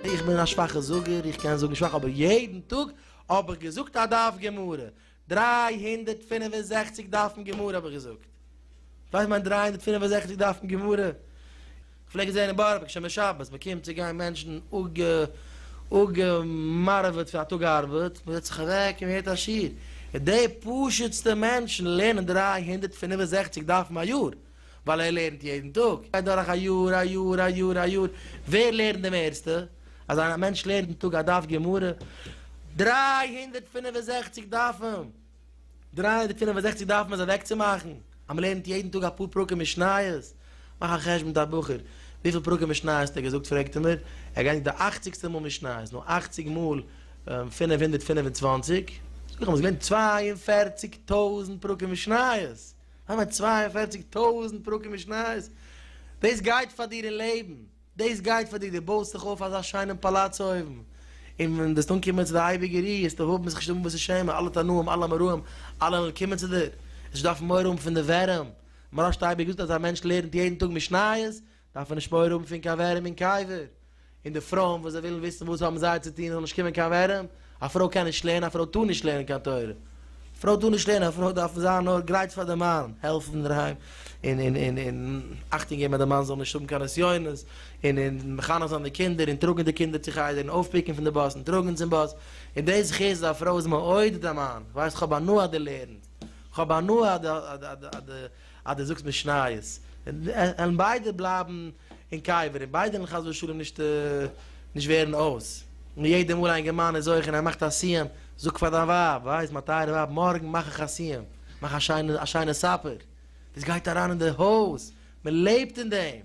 איך בין א שוואכע זאגער, איך קען זאגן שוואך אבער יעדן טאג האב איך געזאגט א דף גמרא, דרײַ הונדערט פֿינף און זעכציק דפים גמרא האב איך געזאגט. ווייסט מיין דרײַ הונדערט פֿינף און זעכציק דף אין גמרא, כ'פלעג עס זען אין בארא פארק שוין בשבת, מ'קומט צו גיין מענטשן אפגעמארעוועט פון א טאג ארבעט, מ'זעצט זיך אוועק און מ'הערט א שיעור, און די פשוט'סטע מענטשן לערנען דרײַ הונדערט פֿינף און זעכציק דפים א יאר, ווייל ער לערנט יעדן טאג, גייט דורך א יאר, א יאר, א יאר, א יאר, ווער לערנט די מערסטע? אז א מענטש לערנט אין טאג א דף גמרא, דרײַ הונדערט פֿינף און זעכציק דפים! דרײַ הונדערט פֿינף און זעכציק דארף מען עס אוועקצומאכן אז מען לערנט יעדן טאג אפאר פרקים משניות, מאך א חשבון מיט א בחור, וויפיל פרקים משניות האט ער געזאגט פרעגט ער מיר, ער גייט נישט די אכציגסטע מאל משניות, נו אכציג מאל פֿינף הונדערט פֿינף און צוואַנציק, זאג איך אים עס געווען צוויי און פֿערציק טויזנט פרקים משניות, וויי מיינט צוויי און פֿערציק טויזנט פרקים משניות, דאס גייט פאר דיר אין לעבן. דאס גייט פאר דיר, דו בויסט זיך אויף אזא שיינעם פאלאץ אויבן, און ווען וועסט אנקומען צו די אייביגע רי וועסטו האבן זיך נישט האבן וואס צו שעמען, אלע תנאים אלע מרעים אלע וועלן קומען צו דיר, וועסט נישט דארפן מורא האבן פון די ווערים, מרן שטייבער האט געזאגט אז א מענטש לערנט יעדן טאג משניות דארף ער נישט מורא האבן פון קיין ווערים און קייווער, און די פרויען וואס זיי ווילן וויסן וואס האבן זיי צו טון עס זאל נישט קומען קיין ווערים, א פרוי קען נישט לערנען, א פרוי טאר נישט לערנען קיין תורה, א פרוי טאר נישט לערנען, א פרוי דארף זיין נאר גרייט פאר די מאן, העלפן אינדערהיים, און און און און אכטונג געבן אז די מאן זאל נישט האבן קיין נסיונות, און און מחנך זיין די קינדער, און טראגן די קינדער צו חדר, און אויפפיקן פון די באס, און טראגן צום באס, און די זכות אז א פרוי איז מעודד א מאן, ווייסט כ'האב הנאה אז דו לערנסט, כ'האב הנאה אז די אז די אז די אז די. אז דו זאגסט משניות, עלן ביידע בלייבן אין קבר, און ביידע עלן חס ושלום נישט נישט ווערן אויס, און יעדע מאל א אינגערמאן איז אויך און ער מאכט א סיום, זאג פאר דיין ווייב, ווייז מיין טייערע ווייב, מארגן מאך איך א סיום, מאך א שיינע א שיינע סאפער, דאס גייט אריין אין די הויז, מען לעבט אין דעם,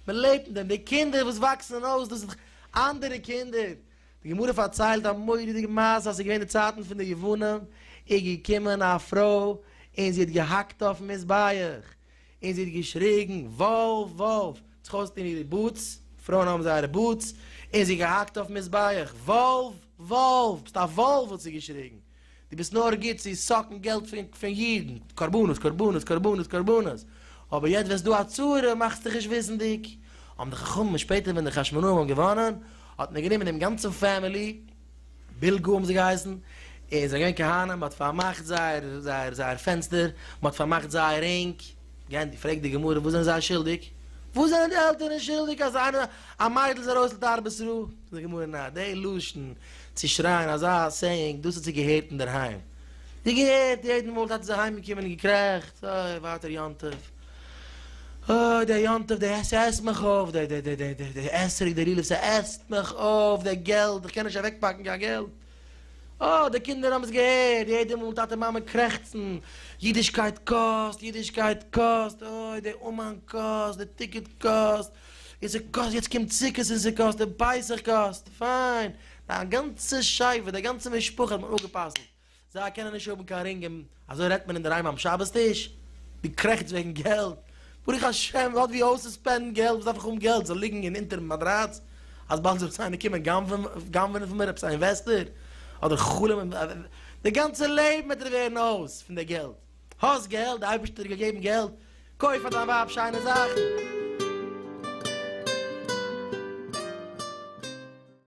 מען לעבט אין דעם, די קינדער וואס וואקסן אויס, דאס איז דאך אנדערע קינדער, די גמרא פארציילט א מורא'דיגע מעשה אז ס'איז געווען די צייטן פון די יוונים, איז געקומען א פרוי און זי האט געהאקט אויפן מזבח, און זי האט געשריגן וואלף וואלף, זיך אויסטון אירע בוטס, פרויען האבן זייערע בוטס, און זי האט געהאקט אויפן מזבח, וואלף וואלף, ביסט א וואלף האט זי געשריגן, דו ביסט נאר גוט צו סאקן געלט פון אידן, קרבנות, קרבנות, קרבנות, קרבנות, אבער יעצט ווערסטו א צורה, מאכסט דיך נישט וויסנדיג, האבן די חכמים שפעטער ווען די חשמונאים האבן געוואנען, האט מען גענומען דעם גאנצן פעמילי, בילגא האבן זיי געהייסן, און זיי זענען געווען כהנים, מען האט פארמאכט זייער זייער זייער פענסטער, מען האט פארמאכט זייער רינג, גיי און פרעג די גמרא וואס זענען זיי שולדיג? וואס זענען די עלטערן שולדיג אז א מיידל איז ארויס לתרבות רעה? זאגט די גמרא נאר די לשון צו שרייען אזא סעיאינג דאס האט זי געהערט אינדערהיים, זי האט געהערט יעדן מאל טאטע איז אהיימגעקומען און געקרעכצט אוי ווייטער יום טוב, אוי דער יום טוב דער ס'עסט מיך אויף, דער דער דער דער דער אתרוג דער לולב ס'עסט מיך אויף, דער געלט איך קען נישט אוועקפאקן קיין געלט, אוי די קינדער האבן עס געהערט יעדן מאל טאטע מאמע קרעכצן, אידישקייט קאסט, אידישקייט קאסט, אוי דער אומאן קאסט, דער טיקעט קאסט, איז ער גאסט, יעצט קומט סוכות איז ער גאסט, דער בייזער גאסט, פיין, דיין גאנצע שייווער, די גאנצע משפחה האט מיך אפגע'פסל'ט, זיי קענען נישט האבן קיין רינג, און אזוי רעדט מען אינדערהיים ביים שבת טיש? דו קרעכטס וועגן געלט? ברוך השם, לאט ווי אויס צו ספענדן געלט, וואס דארף איך האבן געלט, זאל ליגן אין אונטערן מאדראץ, אז באלד זאל איינער קומען גנב'נען פון מיר, עפעס א אינוועסטער, אדער חלומ'ען, די גאנצע לעבן וועט ער ווערן אויס פון די געלט. האסט געלט, די אייבערשטער האט דיר געגעבן געלט, קויף פאר דיין ווייב שיינע זאכן.